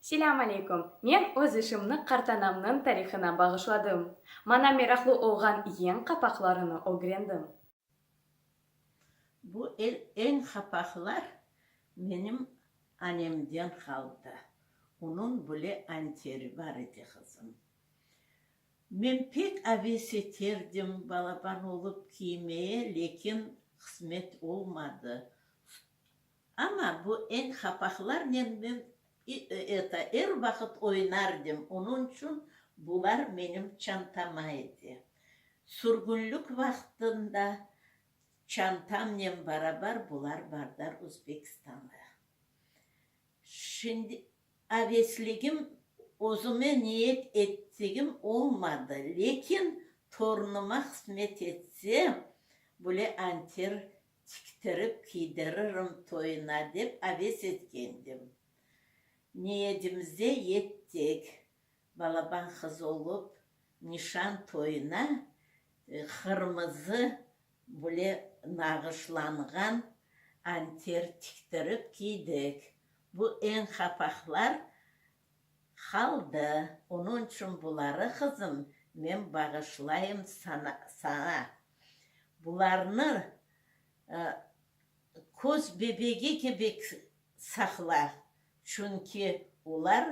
Selâm aleyküm, men öz işimni qartanamnıñ tarihına bağışladım. Mana meraqlı olğan yeñ qapaqlarını ögrendim. Bu eñ qapaqlar menim anemden qaldı. Onıñ bile anteri bar edi, qızım. Men pek aves eterdim balaban olıp kiymeye, lekin qısmet olmadı. Amma bu eñ hapaqlar men men i eta er vaqıt oynardim, onun içün bular menim çantama edi. Sürgünlük vaqtında çantamnen barabar bular bardar Uzbekistanğa. Şimdi avesligim özüme niyet ettigim olmadı, lekin torunıma hısmet etse, bule anter Tiktirip kiydiririm toyuna dep aves etkendim. Niyedimize yettik, balaban qız olup, nişan toyuna qırmızı böyle nağışlanğan anter tiktirip kiydik. Bu eñ qapaqlar Qaldı, onıñ içün buları, qızım, men bağışlayım saña. Bularnı köz bebegi kibi saqla, çünki olar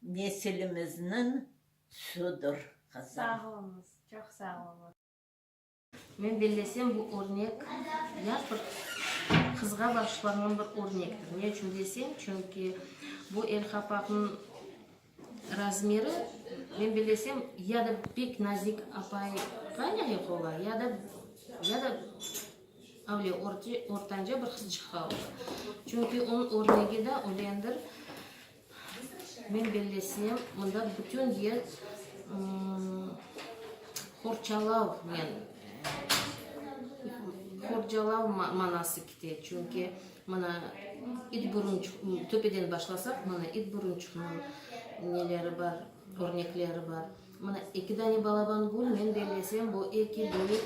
nesilimizniñ tüsüdir, qızım. Sağ oluñız, çoq sağ oluñız. Men bellesem, bu örnek ya bir qızğa baǵışlanğan bir örnektir. Ne içün desem, çünki bu el qapaqnıñ razmeri, men bellesem, ya da pek nazik apayğa lâyıq ola, ya da, ya da avle ortanca bir qızçıqqa ola. Çünki onıñ örnegi de ölendir, Men bellesem, mında bütün yıl qorçalavnen, qorçalav manası kite. Çünki mına it burun çıqı, töpeden başlasaq, mına it burun çıqıñıñ neleri bar, örnekleri bar. Mına eki dane balaban gül, men bellesem, bu eki büyük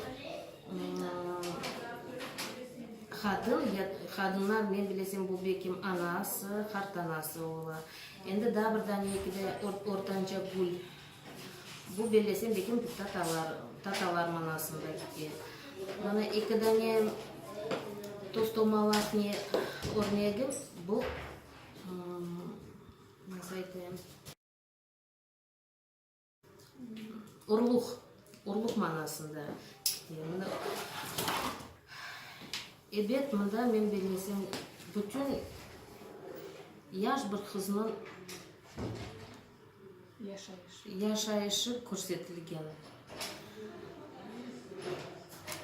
qadın, qadınlar, men bellesem, bu belkim anası, qartanası ola. Endi daa bir dane eki de ortanca gül, bu bellesem, belkim tatalar, tatalar manasında kite. Mına eki dane tostomalaq ne örnegi, bu, nasıl aytayım, Urluq, urluq manasında. Ebet, mında men bilmesem, bütün yaş bir qıznıñ yaşayışı körsetilgen.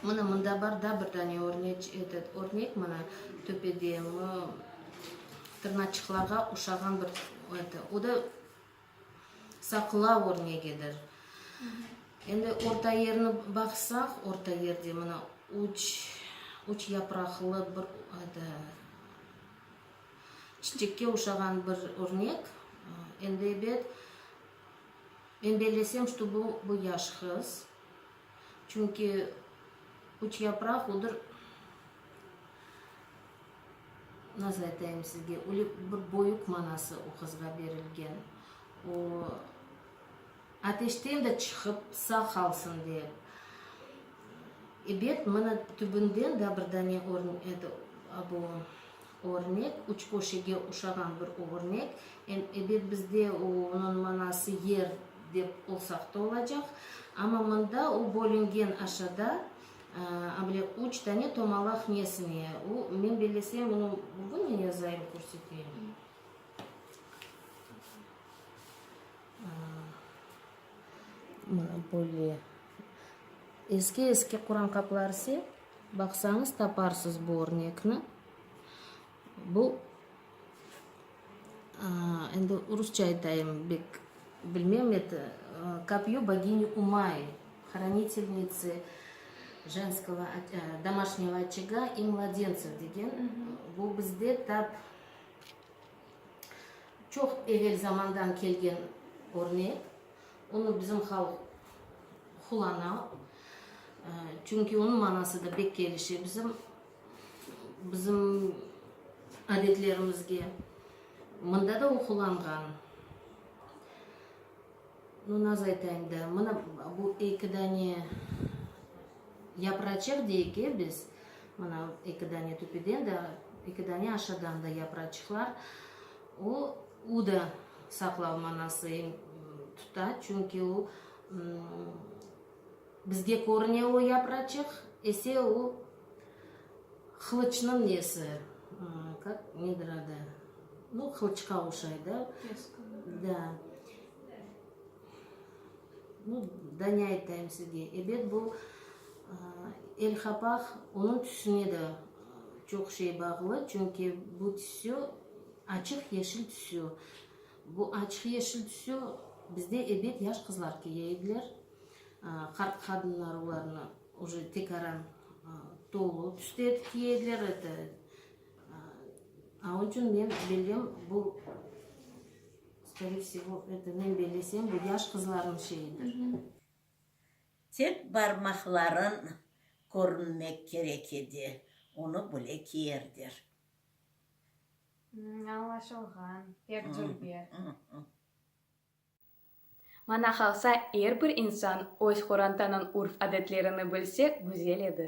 Mına, mında bar da bir dane örnek, etet, örnek, mına, töpede, mı, tırnaçıqlarğa oşağan bir, eto, o da. Saqla örnegidir. Endi orta yerni baqsaq, orta yerde mına üç, üç yapraqlı bir ede, çiçekke oşağan bir örnek. Endi ebet, men bellesem, ştu bu, bu yaş qız. Çünki üç yapraq, odır. Nasıl aytayım sizge, öyle bir boyuq manası o qızğa berilgen. O, ateşten de çıqıp sağ qalsın dep. Ebet, mına tübünden daa bir dane bu örnek, üç köşege oşağan bir örnek. Ebet, bizde onıñ manası yer dep olsaq da olacaq. Amma mında o bölüngen aşada. A bile üç tane tomalaq nesine? U, men bellesem, bunı bugünü yazayım, körseteyim. Böyle eski-eski Quran qapları ise, baqsañız, taparsız bu örnekni. Bu, endi rusça aytayım, bek bilmem edi, Kopyo boginyi Umay, Hranitelniçı jenskogo, domaşnıyo oçega i mladentsov degen, bu bizde tap çoq evel zamandan kelgen örnek, onı bizim halq qulana, çünki onıñ manası da bek kelişe bizim Bizim adetlerimizge mında da oqulanğan. Nu, naz aytayım da, mına bu eki dane yapraçıq deyik, e, biz, mına eki dane tüpeden de, eki dane aşağıdan da yapraçıqlar, o, u da saqlav manası tuta, çünki o, bizge körüne o yapraçıq, ese o, Qılıçnıñ nesi, kak, nedir adı, nu, qılıçqa oşaydı. Deskanı. Da. Nu, da ne aytayım sizge, ebet bu, el qapaq, onıñ tüsüne de çoq şey bağlı, çünki bu tüsü, açıq yeşil tüsü. Bu açıq yeşil tüsü bizde ebet yaş qızlar kiye ediler, qart qadınlar olarnı. Уже tekaran tolu tüşte tiki ediler eti. Aun içün men bildim, bu, skoriye vsevo, eti men bellesem, bu yaş qızlarnıñ şeyidir. Tek barmaqların körünmek kerek edi, onı bile kiyerder. Añlaşılğan, pek cülber. Maña qalsa, er bir insan öz qorantanıñ urf-adetlerini bilse, güzel edi.